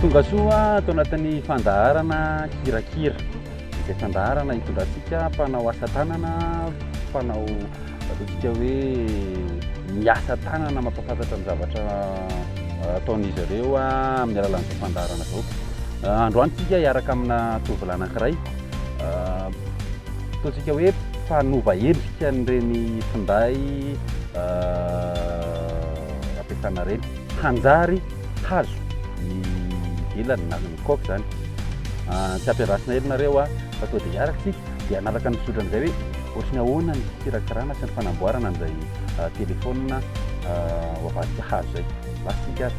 Tongasoa ato anatin'ny fandaharana Kirakira, izay fandaharana hitondrantsika mpanao asa tanana, mpanao ataontsika hoe miasa tanana mampahafantatra ny zavatra ataon'izy ireo amin'ny alalan'izao fandaharana izao. Androany isika hiaraka amina tovolahy anankiray Ataontsika hoe mpanova endrika an'ireny finday ampiasana ireny. Hanjary hazo ny vilany na ny coque izany. Tsy ampiarasina ery nareo a, fa sao dia hiaraka isika dia hanaraka ny fizotrana izay hoe ohatry ny ahoana ny fikirakirana sy ny fanamboarana an'izay telefaonina ho avadika hazo izay. Lasa isika ary.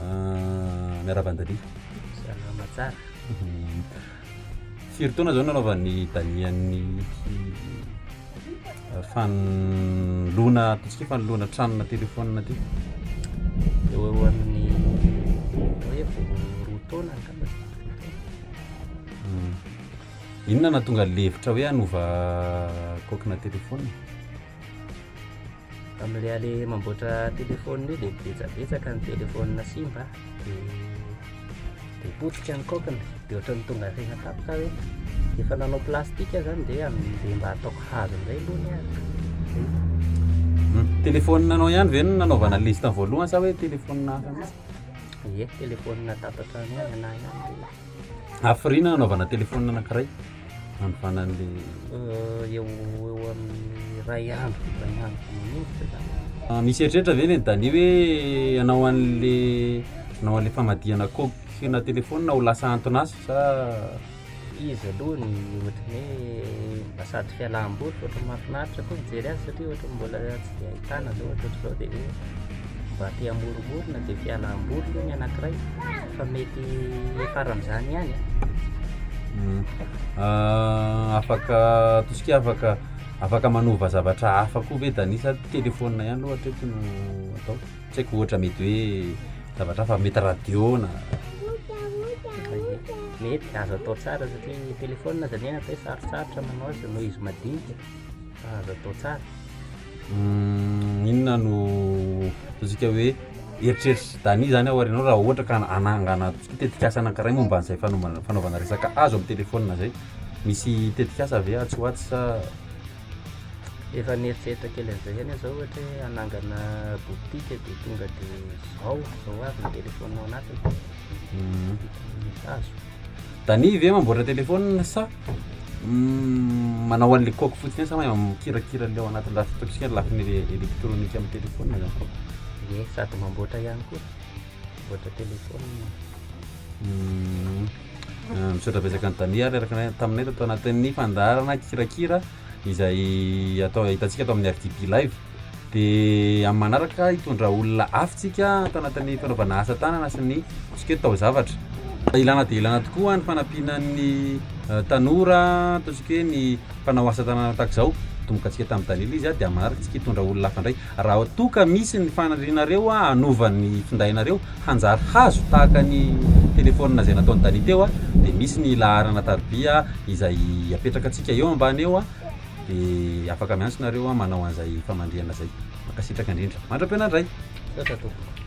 Ah, miarahaba an'i Dadia. Salama tsara. Mhm. Firy taona izao nanaovan'ny Dania ny ah, fanoloana ataontsika hoe fanoloana tranona telefônina ty? Eo eo amin'ny atao hoe vao roa taona angamba. Hmm. Inona nahatonga levitra hoe hanova kaokina telefônina? Amin'ilay ale mamboatra telefaonina io dia betsabetsaka ny telefaonina simba dia potika ny kaokiny dia ohatran'ny tonga harena tapitra aho hoe efa nanao plastika aho zany dia dia mba ataoko hazo indray aloha ny ahy hmm. telefaonina anao ihany ve no nanaovana liste voalohany sa hoe telefaonina hafa mihitsy ye telefaonina tapatra ny ahy na ihany Hafiriana hanaovana telefaonina anankiray hanovana an'ilay eo ho eo amin'ny iray andro iray andro manoritra zany. Ah, misy eritreritra ve le Dani hoe hanao an'le hanao an'le famadihana coque na telefaonina ho lasa anton'asa sa Izy aloha ny ohatran'ny hoe mba sady fialam-boly fa ohatran'ny mahafinaritra koa mijery azy satria ohatran'ny mbola tsy dia ahitana zao ohatrohatr'izao dia hoe mba te hamoromorona dia fialam-boly aloha ny anankiray fa mety hiafaran'izany ihany e. Hmm. Ah, afaka tosika afaka afaka manova zavatra hafa koa ve danisa telefona ihany loha hatreto no atao tsy haiko ohatra mety hoe zavatra hafa mety radio na mety azo atao tsara satria ny telefona zany e atao hoe sarotsarotra manao azy noho izy madinika fa azo atao tsara Uhm inona no ataontsika hoe eritreritr'i Dany zany aorianao raha ohatra ka anangana tetikasa anankiray momba an'izay fanaovana fanaovana resaka azo amin'ny telefaonina zay misy tetikasa ve atsy ho atsy sa Efa nieritreritra kely an'izay ihany aho zao ohatra hoe hanangana boutique de tonga de zao zao avy ny telefaoninao anatiny uhm boutique hazo. Dani ve mamboatra telephone sa manao an'le coque fotsiny sa mahay mikirakira an'le ao anatin'ny lafiny ataontsika ny lafiny elektronika amin'ny telephone zany ye sady mamboatra ihany koa mamboatra telephone misaotra betsaka an'i Dani ary araka ny taminay tato anatin'ny fandaharana kirakira izay atao ahitantsika ato amin'ny RDB live dia amin'ny manaraka hitondra olona afy tsika tanatin'ny fanaovana asa tanana sy ny tsika tao zavatra ilana dia ilana tokoa ny fanampiana ny eh, tanora ataontsika hoe ny mpanao asa tanana tahaka izao tomboka antsika tamin'ny dalila izy dia manaraka tsika hitondra olona afy indray Raha toa ka misy ny fanirianareo hanova ny findainareo hanjary hazo tahaka ny telephone izay nataon'i Dani teo dia misy ny laharana tarobia izay apetrakantsika eo ambany eo dia afaka miantso nareo manao an'izay famandrihana izay. Mankasitraka indrindra. Mandra-piona indray. Misaotra tompoko.